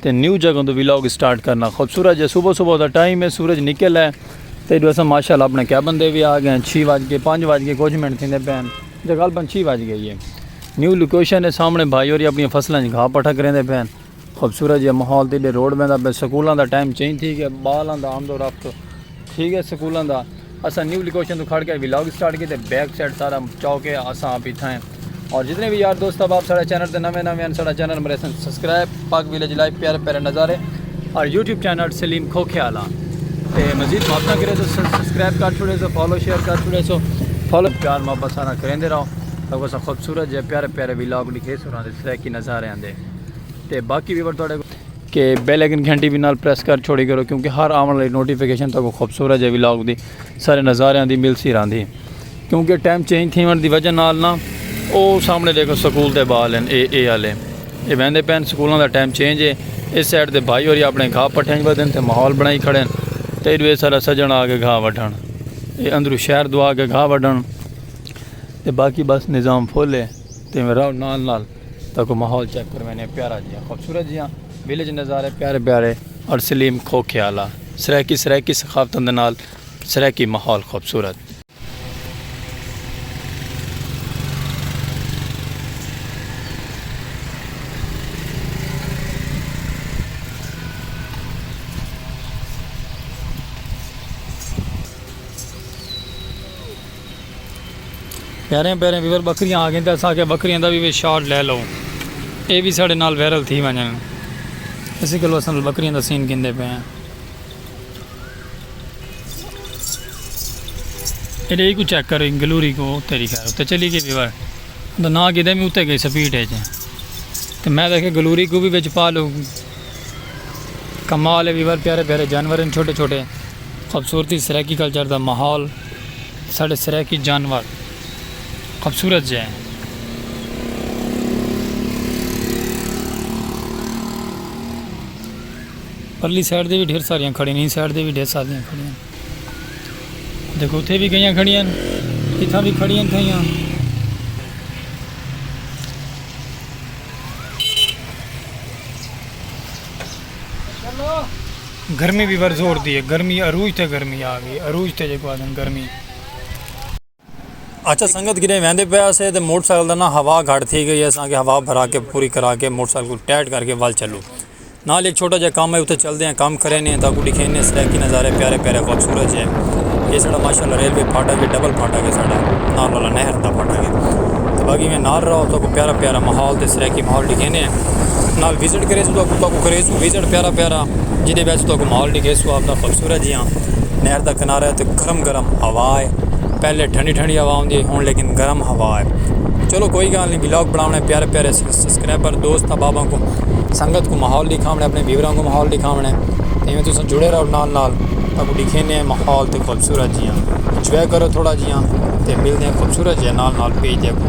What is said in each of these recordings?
تے نیو جگہ توں ویلاگ اسٹارٹ کرنا خوبصورت جے صبح صبح دا ٹائم ہے سورج نکل ہے تے ایڈو اساں ماشاءاللہ اپنے کیبن دے وی آگئے ہیں چھی وج کے پنج وج کے کچھ منٹ تھیندے پئے ہن جے غالبا چھی وج گئی ہے نیو لوکیشن ہے سامنے بھائی ہوری اپنی فصلاں اچ گھا پٹھا کریندے پئے ہن خوبصورت جے ماحول تے ایڈے روڈ ویندا پئے سکولاں دا ٹائم چینج تھی گیا بالاں دا آمد و رفت تھی گئے سکولاں دا اساں نیو لوکیشن تو کھڑ کے ولاگ سٹارٹ کیتے بیک سائیڈ سارا چوک ہے اساں آپ اتھاں ہیں اور جتنے بھی یار دوست احباب سارے چینل تے نویں نویں ہیں سارا چینل مرے سن سبسکرائب پاک ویلیج لائف پیارے پیارے نظارے اور یوٹیوب چینل سلیم کھوکھے والا تے مزید محبت کرے تو سبسکرائب کر چھوڑے سو فالو شیئر کر چھوڑے سو فالو پیار محبت سارا کریندے رہو تو اسا خوبصورت جے پیارے پیارے ولاگ لکھے سو رہاں دے سرائے کی نظارے آندے تے باقی ویور توڑے کہ بیل ایکن گھنٹی بھی نال پریس کر چھوڑی کرو کیونکہ ہر آون والی نوٹیفیکیشن تک خوبصورت جے ولاگ دی سارے نظاریاں دی مل سی راندی کیونکہ ٹائم چینج تھیون دی وجہ نال نا او سامنے دیکھو سکول تے بال ہیں اے اے والے اے ویندے پین سکولاں دا ٹائم چینج ہے اس سائڈ تے بھائی اور اپنے گھا پٹھیں ودن تے ماحول بنائی کھڑے ہیں تے ایڈوے سارا سجن آ کے گھا وڈھن اے اندرو شہر دعا کے گھا وڈھن تے باقی بس نظام فل ہے تے میں راؤ نال نال تکو ماحول چیک کرو وینے پیارا جیاں خوبصورت جیاں ویلیج نظارے پیارے پیارے اور سلیم کھوکھے آلا سرائیکی سرائیکی ثقافتوں دے نال سرائیکی ماحول خوبصورت پیاریاں پیاریاں ویور بکریاں آ گئیں تے اساں آکھیا بکریاں دا وی وچ شاٹ لے لو اے وی ساڈے نال وائرل تھی ونجن اسی کولو اساں بکریاں دا سین گھندے پئے آں ایڈے ای کو چیک کر گلوری کو تیری خیر تے چلی گئی ویور دا نا گدے میں اتے گئی سپیڈ ہے تے میں دیکھے گلوری کو بھی وچ پا لو کمال ہے ویور پیارے پیارے جانور ہیں چھوٹے چھوٹے خوبصورتی سرائیکی کلچر دا ماحول ساڈے سرائیکی جانور خوبصورت جے ہیں۔ پرلی سائیڈ دے بھی ڈھیر ساریاں کھڑیاں ہیں۔ اس سائیڈ دے بھی ڈھیر ساریاں کھڑیاں ہیں۔ دیکھو اتھے بھی گئیاں کھڑیاں ہیں۔ اتھا بھی کھڑیاں تھیاں ہیں۔ گرمی وی ور زور دی ہے۔ گرمی عروج تے گرمی آ گئی ہے۔ عروج تے جیکو آدھن گرمی۔ اچھا سنگت گرے ویندے پے آسے تے موٹر سائیکل دا نا ہوا گھٹ تھی گئی ہے اساں کے ہوا بھرا کے پوری کرا کے موٹر سائیکل کو ٹائٹ کر کے ول چلو نال ایک چھوٹا جا کام ہے اتھے چل دے ہیں کام کرے نے تاکو ڈیکھے نے سرائیکی نظارے پیارے پیارے خوبصورت جے یہ سارا ماشاءاللہ ریلوے پھاٹا کے ڈبل پھاٹا کے سارا نال والا نہر دا پھاٹا کے تو باقی میں نال رہا تو کو پیارا پیارا ماحول تے سرائیکی ماحول ڈیکھے نے نال وزٹ کرے سو تو کو کرے سو وزٹ پیارا پیارا جیندے وچ تہاکوں ماحول ڈکھیسوں آپدا خوبصورت جیہاں نہر دا کنارہ ہے تے گرم گرم ہوا ہے پہلے ٹھنڈی ٹھنڈی ہوا ہوندی ہے ہن لیکن گرم ہوا ہے چلو کوئی گال نہیں ولاگ بناونے پیارے پیارے سبسکرائبر دوست احباباں کو سنگت کو ماحول ڈکھاونے اپنے ویوراں کو ماحول ڈکھاونے تے ایویں تساں جڑے رہو نال نال تہاکوں ڈکھینے ہیں ماحول تے خوبصورت جیہاں انجوائے کرو تھوڑا جیہاں تے ملدے ہیں خوبصورت جیہاں نال نال پیج دیکھو۔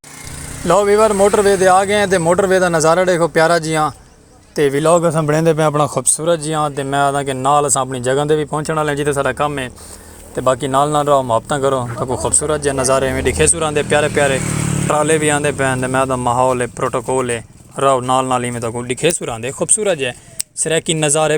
لو ویور موٹر وے دے آ گئے ہیں تے موٹر وے دا نظارہ ڈیکھو پیارا جی ہاں تے ویلاگ اساں بنیندے پہ اپنا خوبصورت جی ہاں تے میں آدھا کہ نال اساں اپنی جگہ دے بھی پہنچن والے ہیں جیتے سارا کم ہے تے باقی نال نال رہو محبتاں کرو تو کوئی خوبصورت جی نظارے میں ڈیکھے سوران دے پیارے پیارے ٹرالے بھی آندے پہ ہیں تے میں آدھا ماحول ہے پروٹوکول ہے رہو نال نال ہی میں تو کوئی ڈیکھے سوران دے خوبصورت جی سرائیکی نظارے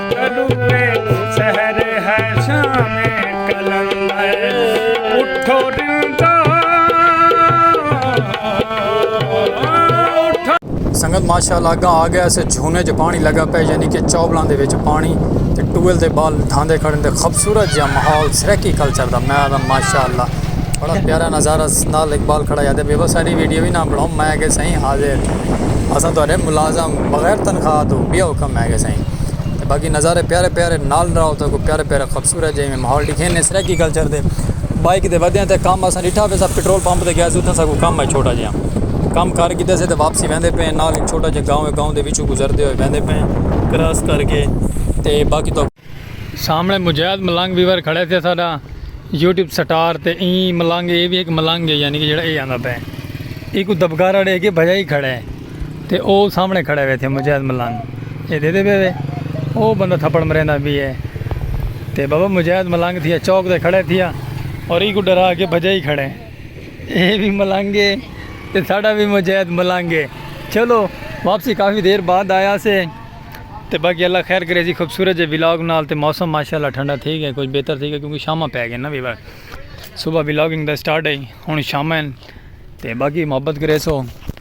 سنگت ماشاء اللہ اگاں آ گیا اسے جھونے جو پانی لگا پہ یعنی کہ چوبلان دے وچ پانی تے ٹویل دے بال دھاندے کھڑے دے خوبصورت جا ماحول سریکی کلچر دا میں آدم ماشاء اللہ بڑا پیارا نظارہ نال اقبال کھڑا یادے بے بس ساری ویڈیو بھی نہ بڑھاؤں میں کہ سائیں حاضر اساں تو ملازم بغیر تنخواہ تو بیا حکم میں کہ سائیں تے باقی نظارے پیارے پیارے نال راہو تاں کوئی پیارے پیارے خوبصورت جے میں ماحول ڈیکھے نے سرائیکی کلچر دے بائک دے ودیاں تے کام اساں ڈٹھا پے سا پٹرول پمپ تے گیا سی اتھاں سا کوئی کام ہے چھوٹا جیاں کام کار کیتے سے تے واپسی ویندے پے ہیں نال ایک چھوٹا جے گاؤں ہے گاؤں دے وچوں گزردے ہوئے ویندے پے ہیں کراس کر کے تے باقی تو سامنے مجید ملنگ ویور کھڑے تھے ساڈا یوٹیوب سٹار تے ایں ملنگ اے وی ایک ملنگ ہے یعنی کہ جڑا اے آندا پے ایکو دبگارا ڈے کے بھجائی کھڑے تے او سامنے کھڑے ہوئے تھے مجاہد ملنگ اے دے دے پے وے او بندہ تھپڑ مریندا بھی اے تے بابا مجاہد ملنگ تھیا چوک تے کھڑے تھیا اور ای کو ڈرا کے بھجا ہی کھڑے اے بھی ملنگ اے تے ساڈا بھی مجاہد ملنگ اے چلو واپسی کافی دیر بعد آیا سے تے باقی اللہ خیر کرے سی خوبصورت جے ولاگ نال تے موسم ماشاءاللہ ٹھنڈا تھی گیا کچھ بہتر تھی گیا کیونکہ شامہ پے گئے نا بھی صبح ولاگنگ دا سٹارٹ ہے ہن شامہ تے باقی محبت کرے سو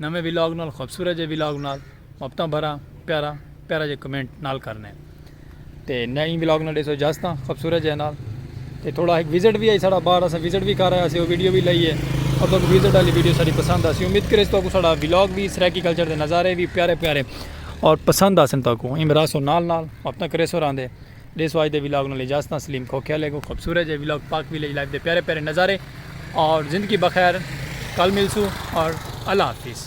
نویں ولاگ نال خوبصورت جے ولاگ نال مبتاں بھراں پیارا پیارا جے کمنٹ نال کرنے تے نئیں ولاگ نال ڈیسو اجازتاں خوبصورت جے نال تے تھوڑا ایک وزٹ بھی آئی ساڑا باہر اسا وزٹ بھی کر رہے اسے او ویڈیو بھی لئی ہے اور تو وزٹ والی ویڈیو ساری پسند آسی امید کرے تو کو ساڑا ولاگ بھی سرائیکی کلچر دے نظارے بھی پیارے پیارے اور پسند آسن تو کو ایم راسو نال نال مبتاں کرے سو راندے ݙیسو اڄ دے ولاگ نال اجازت آں سلیم کھوکھیا لیکوں خوبصورت جے ولاگ پاک ولیج لائف دے پیارے پیارے نظارے اور زندگی بخیر کل ملسوں اور اللہ حافظ۔